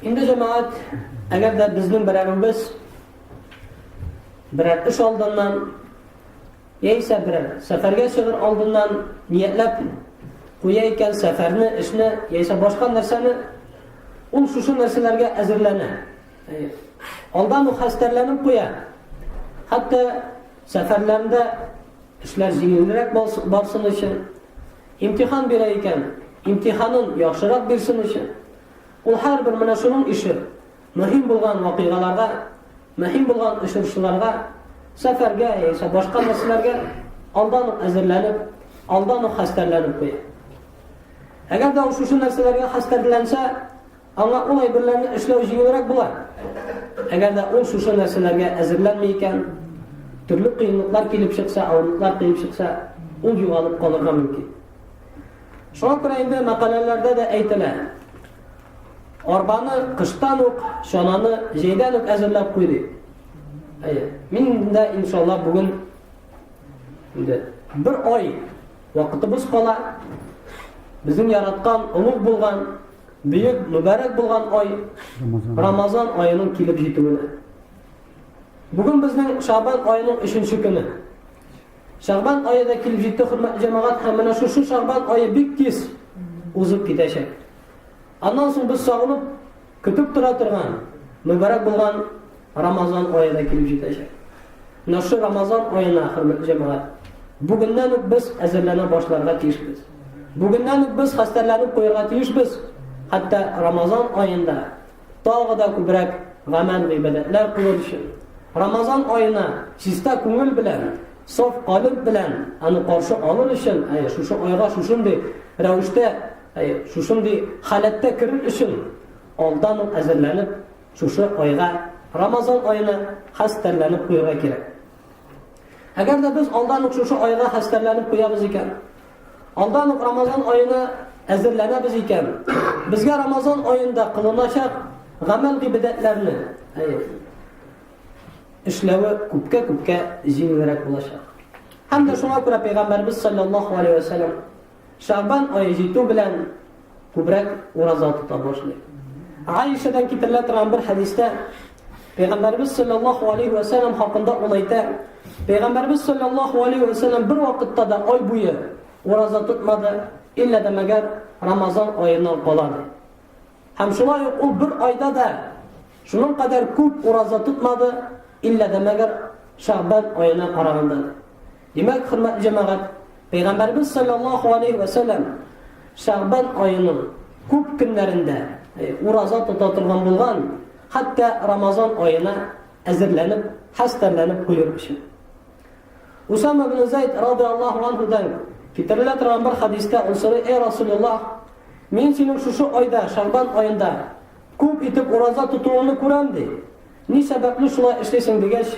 Инде җәмәгать, әгәр дә безнең берәребез берәр эш алдыннан яисә берәр сәфәргә чыгыр алдыннан ниятләп куя икән сәфәрне, эшне яисә башка нәрсәне, ул шушы нәрсәләргә әзерләнә. Алдан ук хәстәрләнеп куя. Хәтта сәфәрләрендә эшләр җиңелрәк барсын өчен, Имтихан бирә икән, имтиханын яхшырак бирсен өчен. Ул һәрбер менә шуның ише. Мөһим булган вакыйгаларга, мөһим булган очрашуларга, сәфәргә яисә башка нәрсәләргә алдан ук әзерләнеп, алдан ук хәстәрләнеп куя. Әгәр дә ул шушы нәрсәләргә хәстәрләнсә, Аңа ул әйберләрне эшләү җиңелрәк була. Әгәр дә ул шушы нәрсәләргә әзерләнми икән, төрле кыенлыклар килеп чыкса, авырлыклар килеп чыкса, ул югалып калырга мөмкин. Шуңа күрә инде мәкаләләрдә дә әйтелә. Арбаны кыштан ук, чананы җәйдән үк әзерләп куй дип. Әйе. Мин дә иншалла бүген инде бер ай вакытыбыз кала. Безнең яраткан, олуг булган Бөек мөбарәк булган ай Рамазан аеның килеп җитүенә. Бүген безнең Шабан аеның 3-нче көне. Шабан ае да килеп җитте, хөрмәтле җәмәгать, һәм менә шушы Шабан ае бик тиз узып китәчәк. Аннан соң без сагынып, көтеп тора торган, мөбарәк булган Рамазан ае да килеп җитәчәк. Менә шул Рамазан аена, хөрмәтле җәмәгать, бүгеннән үк без әзерләнә башларга тиешбез. Бүгеннән үк без хәстәрләнеп куярга тиешбез. Хәтта Рамазан аенда тагы да күбрәк гамәл гыйбадәтләр кылыр өчен. Рамазан аена чиста күңел белән, саф калып белән аны каршы алыр өчен, әй, шушы айга шушындый рәвештә, әй, шушындый халәттә керер өчен алдан ук әзерләнеп Шушы айга, Рамазан аена хәстәрләнеп куярга кирәк. Әгәр дә без алдан ук шушы айга хәстәрләнеп куябыз икән, алдан ук Рамазан аена әзерләнәбез икән, безгә Рамазан аенда кылыначак гамәл гыйбадәтләрне эшләве күпкә-күпкә җиңелрәк булачак. Һәм дә шуңа күрә Пәйгамбәрбез саллаллаһу алейһи ва саллям Шәгъбан ае җитү белән күбрәк ураза тота башлый. Аишадан китерелә торган бер хәдистә Пәйгамбәрбез саллаллаһу алейхи ва саллям хакында ул әйтә, Пәйгамбәрбез саллаллаһу алейхи ва саллям бер вакытта да ай буе ураза тотмады, иллә дә мәгәр Рамазан аеннан калады. Һәм шулай ук ул бер айда да шуның кадәр күп ураза тотмады, иллә дә мәгәр Шәгъбан аена караганда. Димәк, хөрмәтле җәмәгать, Пәйгамбәрбез саллаллаһу алейхи ва саллям Шәгъбан аеның күп көннәрендә э, ураза тота торган булган, хәтта Рамазан аена әзерләнеп, хәстәрләнеп куйыр өчен. Усама ибн Зайд радиаллаһу анһудан китерелә торган бер хадиста ул сорый: "Эй Расулуллах, мин синең шушы айда, Шәгъбан аенда күп итеп ураза тотуыңны күрәм", ди. Ни сәбәпле шулай эшлисең дигәч,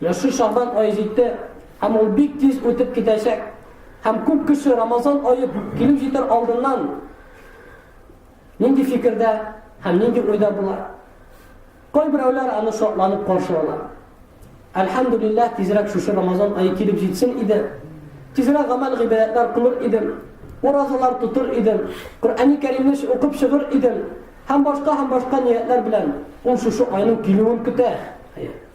Яши Шәгъбан ае җитте, һәм ул бик тиз үтеп китәчәк. Һәм күп кеше Рамазан ае килеп җитәр алдыннан нинди фикердә һәм нинди уйда була? Кайберәүләр аны шатланып каршы ала. Әлхәмдулиллаһ, тизрәк шушы Рамазан ае килеп җитсен иде. Тизрәк гамәл гыйбадәтләр кылыр идем, уразалар тотыр идем, Коръәни Кәримне укып чыгыр идем һәм башка һәм башка ниятләр белән ул шушы айның килүен көтә.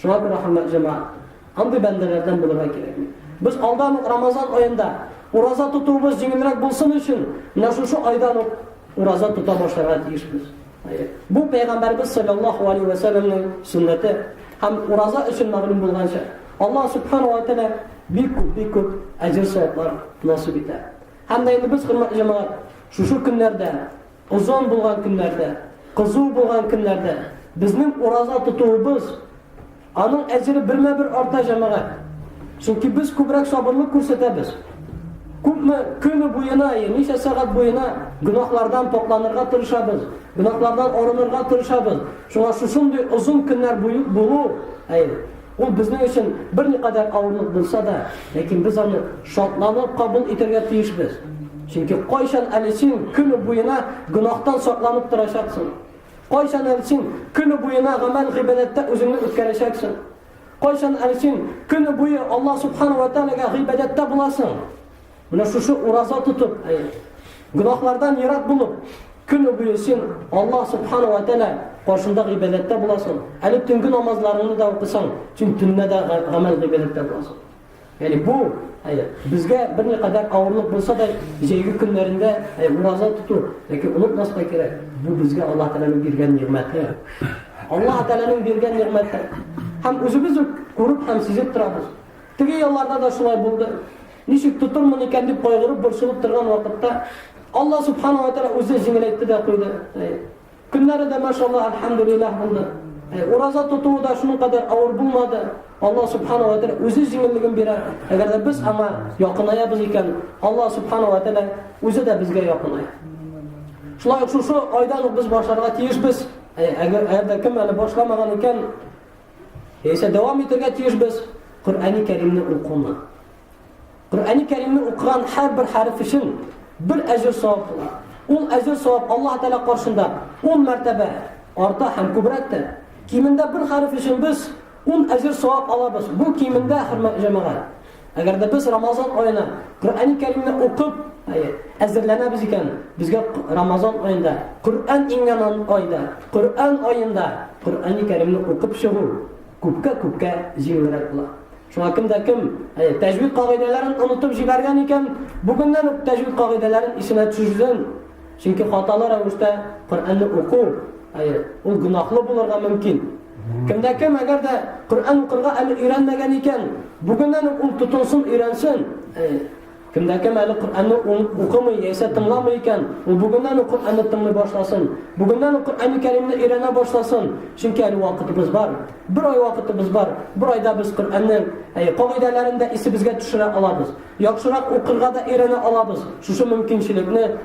Шуңа күрә, хөрмәтле җәмәгать, андый бәндәләрдән булырга кирәкми. Без алдан ук Рамазан аенда ураза тотуыбыз җиңелрәк булсын өчен, менә шушы айдан ук ураза тота башларга тиешбез. Бу пәйгамбәрбез саллаллаху алейхи ва саллямның сөннәте һәм ураза өчен мәгълүм булганча, Аллаһ субхану ва тааля бик күп, бик күп әҗер саваплар насыйп итә. Һәм дә инде без хөрмәтле җәмәгать, шушы көннәрдә Озын булган көннәрдә, кызу булган көннәрдә безнең ураза тотуыбыз, аның әҗере бермә-бер арта, җәмәгать. Чөнки без күбрәк сабырлык күрсәтәбез. Күпме көне буена, ничә сәгать буена гөнаһлардан покланырга тырышабыз, гөнаһлардан арынырга тырышабыз. Шуңа шушындый озын көннәр булу, әй, Ул безнең өчен берникадәр авырлык булса да, ләкин без аны шатланып кабул итәргә тиешбез. Чөнки кайчан әле син көне буена гөнаһтан сакланып торачаксың? Кайчан әле син көне буена гамәл гыйбадәттә үзеңне үткәрәчәксең? Кайчан әле син көне буе Аллаһ субхана ва тәгаләгә гыйбадәттә буласың? Менә шушы ураза тотып, гөнаһлардан ерак булып, көне буе син Аллаһ субхана ва тәала каршында гыйбадәттә буласың. Әле төнге намазларыңны да укысаң, син төнлә дә гамәл гыйбадәттә буласың. Яни бу әйе, безгә бер ни кадәр авырлык булса да, җәйге көннәрендә әйе, ураза тоту, яки онытмаска кирәк. Бу безгә Алла Тәгаләнең биргән нигъмәте. Алла Тәгаләнең биргән нигъмәте. Һәм үзебез үк күреп һәм сизеп торабыз. Теге елларда да шулай булды. Ничек тотырмын икән дип кайгырып, борчылып торган вакытта, Алла Субхана ва Тәгалә үзе җиңеләйтте дә куйды. Көннәре дә, машалла, альхамдулиллах булды. Ураза тотуы да шуның кадәр авыр булмады. Алла Субхана ва Тәгалә үзе җиңеллеген бирә. Әгәр дә без аңа якынаябыз икән, Алла Субхана ва Тәгалә үзе дә безгә якыная. Шулай ук шушы айдан ук без башларга тиешбез. Әгәр дә кем әле башламаган икән, Яисә дәвам итергә тиешбез Коръәни Кәримне укуны. Коръәни Кәримне укыган һәрбер хәреф өчен бер әҗер савап була. Ул әҗер савап Аллаһ Тәгалә каршында 10 мәртәбә арта һәм күбрәк тә. Кимендә бер хәреф өчен без 10 әҗер савап алабыз. Бу кимендә хөрмәт җәмәгать. Әгәр дә без Рамазан аена Коръәни Кәримне укып, әзерләнәбез икән, безгә Рамазан аенда, Коръән иңгән айда, Коръән аенда Коръәни Кәримне укып чыгу күпкә-күпкә җиңелрәк була. Шуңа кем дә кем тәҗвид кагыйдәләрен онытып җибәргән икән, бүгеннән үк тәҗвид кагыйдәләрен исенә төшерсен. Чөнки хаталы рәвештә Коръәнне уку, ул гөнаһлы булырга мөмкин. Кем дә кем, әгәр дә Коръән укырга әле өйрәнмәгән икән, бүгеннән үк ул тотынсын, өйрәнсен. Кем дә кем әле Коръәнне укымый яисә тыңламый икән, ул бүгеннән үк Коръәнне тыңлый башласын. Бүгеннән үк Коръәнне Кәримне өйрәнә башласын. Чөнки әле вакытыбыз бар. Бер ай вакытыбыз бар. Бер айда без Коръәннең кагыйдәләрен дә исебезгә төшерә алабыз. Яхшырак укырга да өйрәнә алабыз. Шушы мөмкинчелекне,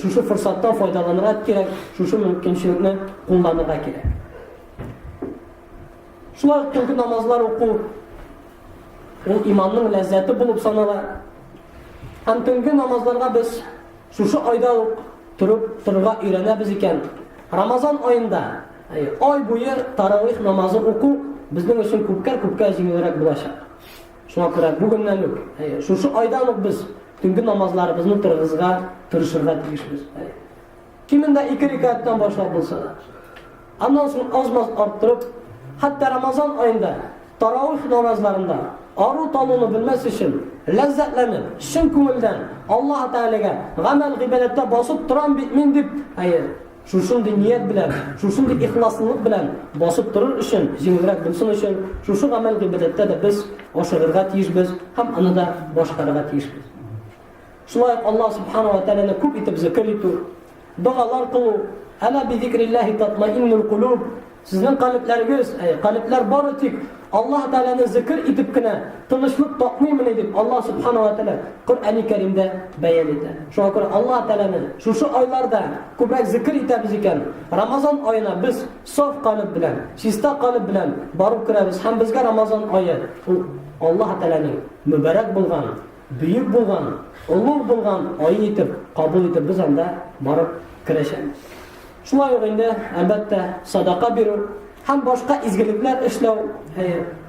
шушы форсаттан файдаланырга кирәк, шушы мөмкинчелекне кулланырга кирәк. Шулай ук төнге намазлар уку ул иманның ләззәте булып санала. Һәм төнге намазларга без шушы айда ук торып торырга өйрәнәбез икән. Рамазан аенда ай буе таравих намазы уку безнең өчен күпкә-күпкә җиңелрәк булачак. Шуңа күрә бүгеннән үк, шушы айдан ук без төнге намазларыбызны торгызга тырышырга тиешбез. Кимендә ике рикаттан башлап булса да. Аннан соң аз-маз арттырып, хәтта Рамазан айында таравих намазларында ару талуны белмәс өчен ләззәтләнеп, чын күңелдән Аллаһ Тәгаләгә гамәл гыйбадәттә басып торам бит мин дип, әйе, Шушындый ният белән, шушындый ихласлылык белән басып торыр өчен, җиңелрәк булсын өчен, шушы гамәл гыйбадәттә дә без ашыгырга тиешбез һәм аны да башкарырга тиешбез. Шулай ук Аллаһ субхана ва тәгаләне күп итеп зикр итү, догалар кылу, әла би зикриллахи татмаиннул кулуб, Сезнең калебләрегез, әй, калебләр бары тик Аллаһ Тәгаләне зикр итеп кенә тынычлык тапмыймыни дип Аллаһ Субхана ва Тәгалә Коръәни Кәримдә бәян итә. Шуңа күрә Аллаһ Тәгаләне шушы айларда күбрәк зикр итәбез икән, Рамазан аена без саф калеб белән, чиста калеб белән барып керәбез һәм безгә Рамазан ае ул Аллаһ Тәгаләнең мөбарәк булган, бөек булган, олуг булган ае итеп кабул итеп без анда барып керәчәбез. Шулай ук инде, әлбәттә, садака бирү һәм башка изгелекләр эшләү,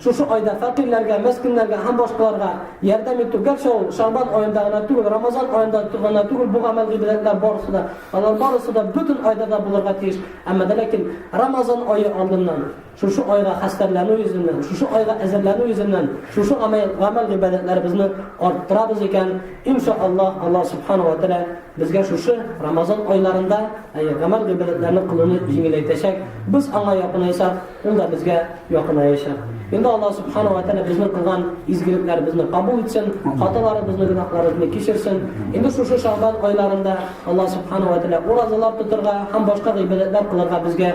шушы айда фәкыйрьләргә, мескеннәргә һәм башкаларга ярдәм итү, гәрчә ул Шәгъбан аенда гына түгел, Рамазан аенда гына түгел, бу гамәл гыйбадәтләр барысы да, алар барысы да бөтен айда да булырга тиеш. Әмма дә ләкин Рамазан ае алдыннан Шушы айга хәстәрләнү йөзеннән, шушы айга әзерләнү йөзеннән, шушы гамәл, гамәл-гыйбадәтләребезне арттырабыз икән, ин ша Аллаһ, Аллаһ Субхана ва Тәгалә безгә шушы Рамазан айларында, әйе, гамәл-гыйбадәтләрне кылуны җиңеләйтәчәк, без аңа якынайсак, ул да безгә якынаячак. Инде Аллаһ Субхана ва Тәгалә безнең кылган изгелекләребезне кабул итсен, хаталарыбызны, гөнаһларыбызны кичерсен. Инде шушы Шәгъбан айларында Аллаһ Субхана ва Тәгалә уразалар тотарга һәм башка гыйбадәтләр кылырга безгә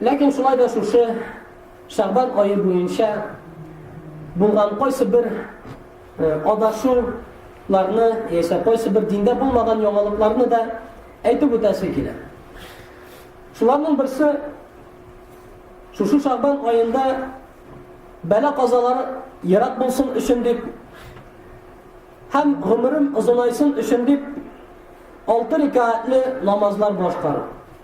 Ләкин шулай да шушы Шәгъбан ае буенча булган кайсы бер э, адашуларны яисә кайсы бер диндә булмаган яңалыкларны да әйтеп үтәсе килә. Шуларның берсе шушы Шәгъбан аенда бәла казалары ерак булсын өчен дип һәм гомерем озынайсын өчен дип алты рикаатле намазлар башкару.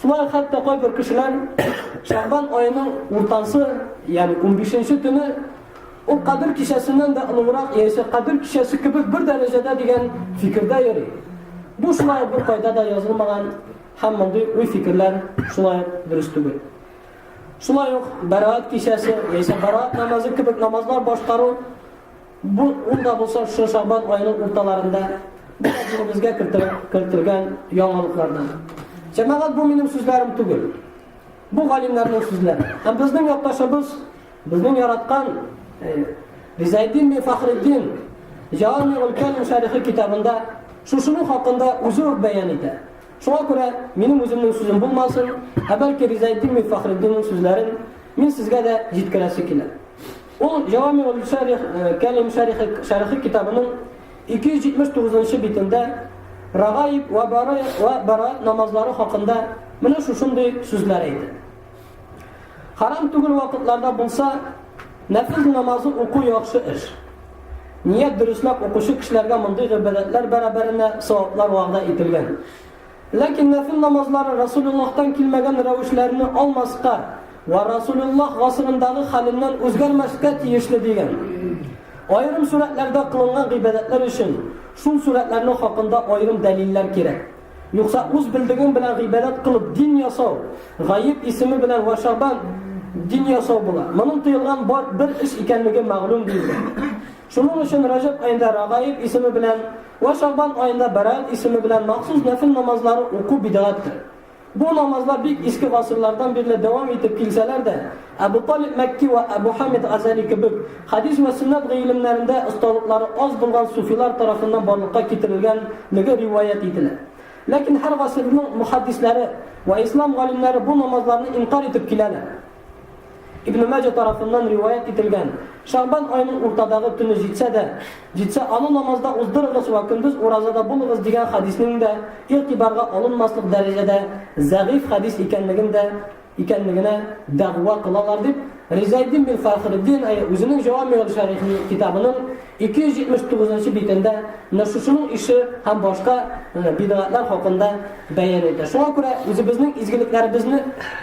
Шулай ук хәтта кайбер кешеләр Шәгъбан аеның уртасы, ягъни 15-нче төне ул Кадер кичәсеннән дә олыграк, яисә Кадер кичәсе кебек бер дәрәҗәдә дигән фикердә йөри. Бу шулай ук беркайда да язылмаган һәм мондый уй-фикерләр шулай ук дөрес түгел. Шулай ук Бәраат кичәсе яисә Бәраат намазы кебек намазлар башкару Бу ул да булса шушы шабан аеның урталарында бөтен динебезгә кертелгән яңалыклардан. Җәмәгать бу минем сүзләрем түгел. Бу галимнәрнең сүзләре. Һәм безнең якташыбыз, безнең яраткан Ризайдин бин Фахреддин Җаами ул-Кәлим шәрихи китабында шушының хакында үзе үк бәян итә. Шуңа күрә минем үземнең сүзем булмасын, ә бәлки Ризайдин бин Фахреддинның сүзләрен мин сезгә дә җиткерәсе килә. Ул Җәвами ул-Шәрих, Кәлим Шәрихи, Шәрихи китабының 279 нчы битендә Рагаиб вә Бара вә Бара намазлары хакында менә шушындый сүзләр әйтә. Харам түгел вакытларда булса, нәфил намазы уку яхшы эш. Ният дөресләп укучы кешеләргә мондый гыйбадәтләр бәрабәренә саваплар вәгъдә ителгән. Ләкин нәфел намазлары Расулуллаһтан килмәгән рәвешләрне алмаска вә Расулуллаһ гасырындагы хәленнән үзгәрмәскә тиешле дигән. Аерым сурәтләрдә кылынган гыйбадәтләр өчен шул сурәтләрнең хакында аерым дәлилләр кирәк. Юкса үз белдегең белән гыйбадәт кылып дин ясау, Гайб исеме белән вә Шәгъбан дин ясау була. Моның тыелган бер эш икәнлеге мәгълүм, диелгән. Шуның өчен Рәҗәб аенда Рәгаиб исеме белән Вә Шәгъбан аенда Бәраәт исеме белән махсус нәфел намазлары уку бидгатьтер. Бу намазлар бик иске гасырлардан бирле дәвам итеп килсәләр дә, Әбү Талиб Мәкки вә Әбү Хамид Газәли кебек хәдис вә сөннәт гыйлемнәрендә осталыклары аз булган суфилар тарафыннан барлыкка китерелгән леге риваять ителә. Ләкин һәр гасырның мөхәддисләре вә ислам галимнәре бу намазларны инкарь итеп киләләр. Ибне Маҗа тарафыннан риваять ителгән, Шәгъбан аеның уртадагы төне җитсә дә, җитсә, аны намазда уздырыгыз вә көндез уразада булыгыз дигән хәдиснең дә игътибарга алынмаслык дәрәҗәдә зәгыйфь хәдис икәнлеген дә икәнлегенә дәгъва кылалар, дип Ризаэддин бин Фәхреддин үзенең Җәвамиул Шәрихи китабының 279 нчы битендә менә шушының ише һәм башка бидгатьләр хакында бәян итә. Шуңа күрә үзебезнең изгелекләребезне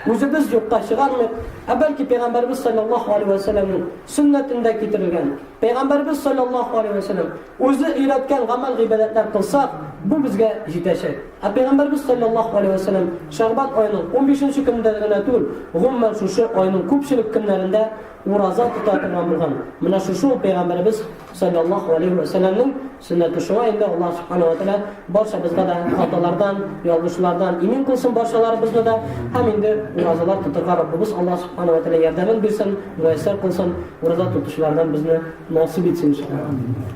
үзебез юкка чыгармыйк, ә бәлки Пәйгамбәрбез саллаллаһу алейһи ва сәлләмнең сөннәтендә китерелгән, Пәйгамбәрбез саллаллаһу алейһи ва сәлләм үзе өйрәткән гамәл гыйбадәтләр кылсак, бу безгә җитәчәк. Ә Пәйгамбәрбез саллаллаһу алейһи ва сәлләм Шәгъбан аеның 15-нче көнендә генә түгел, гомумән шушы айның күпчелек көннәрендә ураза тота торган булган. Менә шушы ул Пәйгамбәрбез саллаллаһу алейһи ва сәлләмнең Сөннәте шуңа инде Аллаһ Субхана ва Тәгалә барчабызга да хаталардан, ялгышлардан имин кылсын барчаларыбызны да һәм инде уразалар тотырга Раббыбыз Аллаһ Субхана ва Тәгалә ярдәмен бирсен, муяссәр кылсын, ураза тотучылардан безне насыйп итсен иншаллаһ.